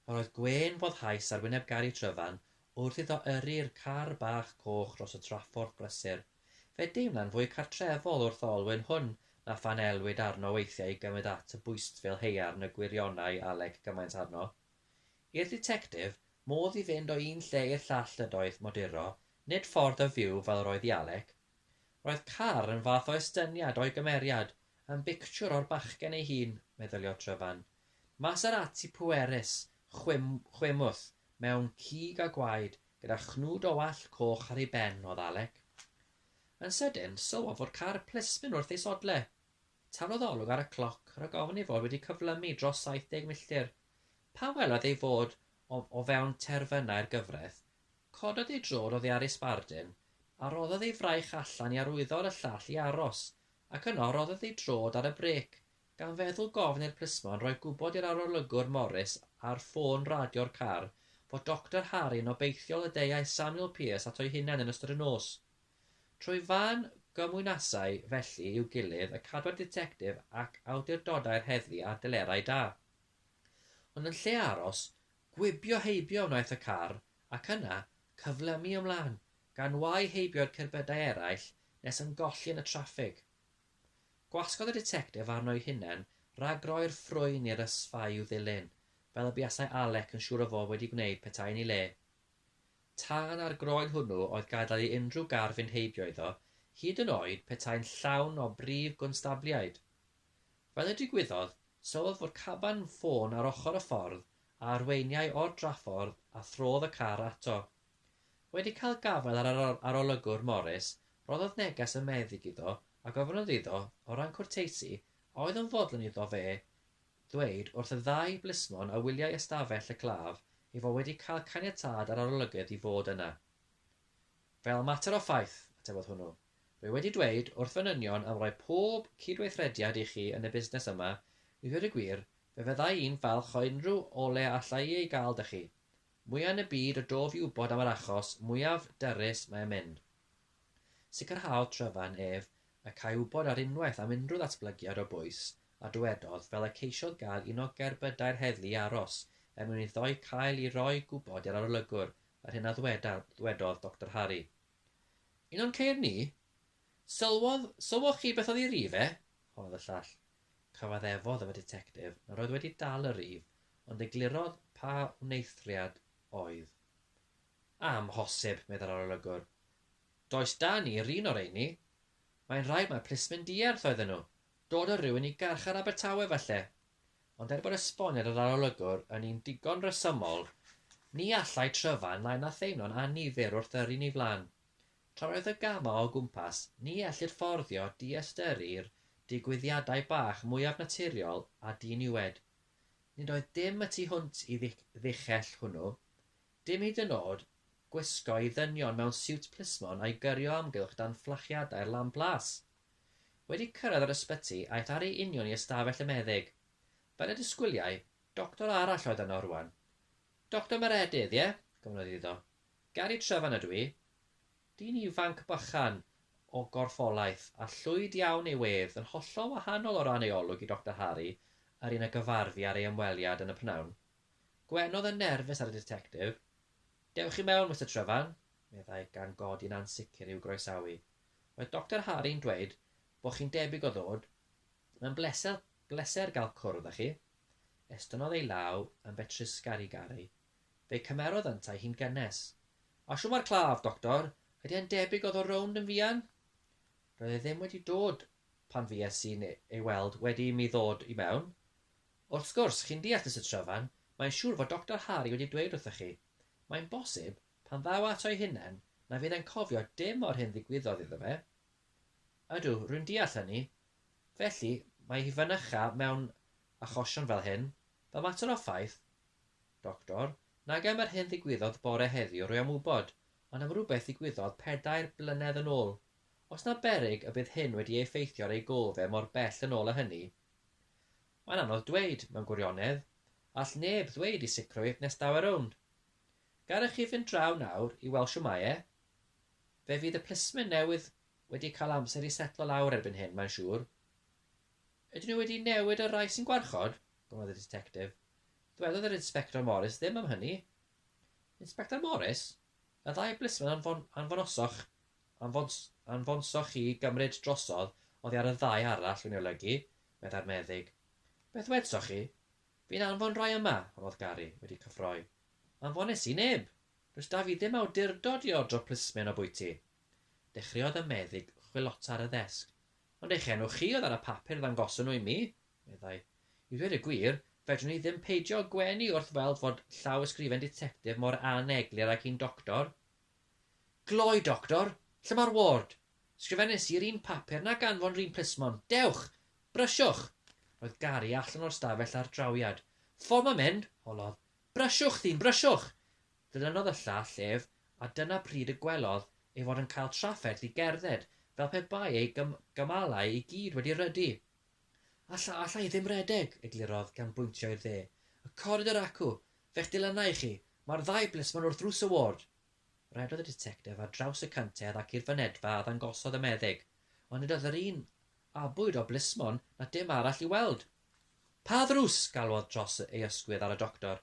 Pan oedd gwên foddhaus ar wyneb Gary Tryfan wrth iddo yrru'r car bach coch dros y trafforth brysur, fe deimlai'n fwy cartrefol wrth olwyn hwn na phan elwid arno weithiau i gymryd at y bwystfil haearn y gwirionai Alec gymaint arno. I'r dditectif, modd i fynd o un lle i'r llall ydoedd moduro, nid ffordd o fyw fel yr oedd i Alec. Roedd Carr yn fath o estyniad o'i gymeriad yn bictiwr o'r bachgen ei hun, meddyliodd Tryfan. Maserati pwerus, chwim, chwimwth, mewn cig a gwaed, gyda chnwd o wallt coch ar ei ben, oedd Alec. Yn sydyn, sylwodd fod Carr plismyn wrth ei sodle. Taflodd olwg ar y cloc, rhag ofn ei fod wedi cyflymu dros 70 milltir. Pan welodd ei fod o, o fewn terfynau'r gyfraith, Cododd ei drwr oddi ar ei sbardun, a rhoddodd ei fraich allan i arwyddo ar y llall i aros, ac yno rhoddodd ei drod ar y brêc, gan feddwl gofn i'r plismon roi gwybod i'r arolygwr Morris ar ffôn radio'r car fod Doctor Harry yn obeithiol y deuai Samuel Pearce ato'i hunain yn ystod y nos. Trwy fân gymwynasau felly i'w gilydd y cadwai'r ditectif ac awdurdodau'r heddlu ar delerau da. Ond yn lle aros, Gwibio heibio wnaeth y car, ac yna, cyfle am mi ymlaen, gan wau heibio i'r cerbydau eraill nes yn golli yn y traffig. Gwasgodd y ditectif arno'i hunen rag roi'r ffrwyn i'r ysfa i'w ddilyn, fel y buasai Alec yn siŵr o fod wedi gwneud petai yn ei le. Tân ar groen hwnnw oedd gadael i unrhyw gar fynd heibio iddo, hyd yn oed petai'n llawn o brif gonstabliaid. Fel y digwyddodd, sylwodd fod caban ffôn ar ochr y ffordd a arweiniai o'r draffordd a throdd y car ato. Wedi cael gafael ar yr arolygwr Morris, rhoddodd neges y meddyg iddo a gofynnodd iddo, o ran cwrteisi, a oedd yn fodlon iddo fe ddweud wrth y ddau blismon a wyliai ystafell y claf ei fod wedi cael caniatâd yr arolygydd i fod yna. Fel mater o ffaith, atebodd hwnnw, rwy wedi dweud wrth fy nynion am roi pob cydweithrediad i chi yn y busnes yma, i ddweud y gwir, fe fyddai i'n falch o unrhyw ole alla i ei gael 'da chi. Mwya yn y byd o dof i wybod am yr achos mwyaf dyrys mae yn mynd. Sicrhaodd Trevan ef y câi wybod ar unwaith am unrhyw ddatblygiad o bwys, a dywedodd, fel y ceisiodd gael un o gerbydau'r heddlu i aros er mwyn iddo'i cael i roi gwybod i'r arolygwr Yr hyn a ddwedodd Doctor Harry. Un o'n ceir ni? Sylwodd, sylwoch chi beth oedd ei rif e? honnodd y llall. Cyfaddefodd y Detectif nad oedd wedi dal y rif, ond eglurodd pa wneithriad oedd. Amhosib, meddai'r arolygwr. Does 'da ni yr un o reini. Mae'n rhaid mai plismyn dierth oedden nhw. Dod â rhywun i garchar Abertawe, falle, Ond er bod esboniad yr arolygwr yn un digon rhesymol, ni allai Tryfan lai na theimlo'n annifyr wrth yrru ni flan. Tra roedd y gamau o gwmpas, ni ellir fforddio diystyrru'r digwyddiadau bach mwyaf naturiol a diniwed. Nid oedd dim y tu hwnt i ddichell hwnnw, dim hyd yn od gwisgo i ddynion mewn siwt plismon a'i gyrio amgylch dan fflachiadau'r lamp las. Wedi cyrraedd yr ysbyty, aeth ar ei union i ystafell y meddyg. Fel y disgwyliai, doctor arall oedd yno rwan. Doctor Meredydd, ie? gofynnodd iddo. Gary Trevan ydw i. Dyn ifanc bychan o gorffolaeth, a llwyd iawn ei wedd, yn hollol wahanol o ran ei olwg i Doctor Harry, yr un a gyfarfu ar ei ymweliad yn y p'nawn. Gwenodd yn nerfus ar y ditectif. Dewch i mewn, Mister Trevan, meddai, gan godi'n ansicr i'w groesawu. Mae Doctor Harry'n dweud bod chi'n debyg o ddod, mae'n bleser bleser gael cwrdd â chi. Estynnodd ei law yn betrus Scary Garry. Fe cymerodd yntau hi'n gynnes. A shw mae'r claf, Doctor? Ydy e'n debyg o ddod rownd yn fuan? Roedd e ddim wedi dod pan fues i'n ei weld wedi i mi ddod i mewn. Wrth gwrs, chi'n deall, Mister Trevan, mae'n siŵr fod Doctor Harry wedi dweud wrthoch chi. Mae'n bosib Pan ddaw ato'i hunan, na fydd e'n cofio dim o'r hyn ddigwyddodd iddo fe. Ydw, rwy'n deall hynny. Felly, mae hi fynycha mewn achosion fel hyn, fel mater o ffaith. Doctor, nag am yr hyn ddigwyddodd bore heddiw rwy am wybod, ond am rywbeth ddigwyddodd pedair blynedd yn ôl. Oes 'na beryg y bydd hyn wedi ei effeithio ar ei gôl fe mor bell yn ôl â hynny? Mae'n anodd dweud, mewn gwirionedd. All neb ddweud i sicrwydd nes daw e rownd. Gallech chi fynd draw nawr i weld shw mae e. Fe fydd y plismyn newydd wedi cael amser i setlo lawr erbyn hyn, mae'n siŵr. Ydyn nhw wedi newid y rhai sy'n gwarchod? gofynnodd y Ditectif. Dwedodd yr Inspector Morris ddim am hynny. Inspector Morris? Y ddau blismyn anfon, anfonosoch, anfons, anfonsoch chi gymryd drosodd oddi ar y ddau arall, dwi'n ei olygu, meddai'r meddyg. Beth wedsoch chi? Fi'n anfon rhai yma, rodd Gary wedi cyffroi. Anfones i neb! Does 'da fi ddim awdurdod i ordro plismen o bwyty. Dechreuodd y meddyg chwilota ar y ddesg. Ond eich enw chi oedd ar y papur ddangoson nhw i mi, meddai. I ddweud y gwir, fedrwn i ddim peidio gwenu wrth weld fod llawysgrifen ditectif mor aneglur ag un doctor. Gloi, Doctor! Lle mae'r ward? Sgrifennes i'r un papur nag anfon yr un plismon. Dewch! Brysiwch! Roedd Gary allan o'r stafell ar drawiad. Ffordd mae'n mynd! holodd. Brysiwch, ddyn, brysiwch! Ddilynodd y llall ef, a dyna pryd y gwelodd ei fod yn cael trafferth i gerdded fel pe bai ei gymalau i gyd wedi rhydu. Alla, alla i ddim redeg! eglurodd gan bwyntio i'r dde. Y coridor acw! Fe'ch dilynna i chi. Mae'r ddau blismon wrth ddrws y ward. Rhedodd y ditectif ar draws y cantedd ac i'r fynedfa a ddangosodd y meddyg, ond nid oedd yr un abwyd o blismon na dim arall i'w weld. Pa ddrws? galwodd dros ei ysgwydd ar y doctor.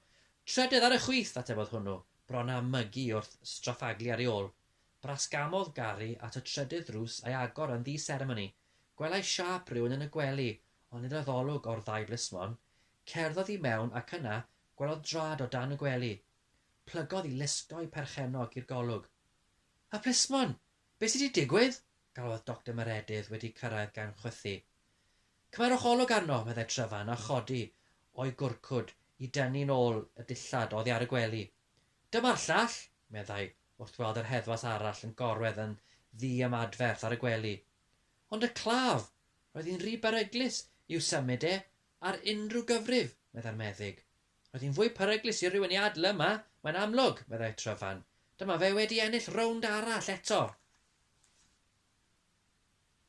Trydydd ar y chwith! atebodd hwnnw, bron â mygu wrth straffaglu ar ei ôl. Brasgamodd Gary at y trydydd ddrws a'i agor yn ddi-seremoni. Gwelai siâp rhywun yn y gwely, ond nid oedd olwg o'r ddau blismon. Cerddodd i mewn ac yna gwelodd drad o dan y gwely. Plygodd i lusgo'i perchennog i'r golwg. Y plismon! Be sy 'di digwydd? galwodd Doctor Meredydd wedi cyrraedd gan chwythu. Cymerwch olwg arno, meddai Tryfan a chodi o'i gwrcwd i dynnu'n ôl y dillad oddi ar y gwely. Dyma'r llall! meddai wrth weld yr heddwas arall yn gorwedd yn ddi-ymadferth ar y gwely. Ond y claf! Roedd hi'n rhy beryglus i'w symud e Ar unrhyw gyfrif, meddai'r meddyg. Roedd hi'n fwy peryglus i rywun ei adl yma, mae'n amlwg, meddai Tryfan. Dyma fe wedi ennill rownd arall eto.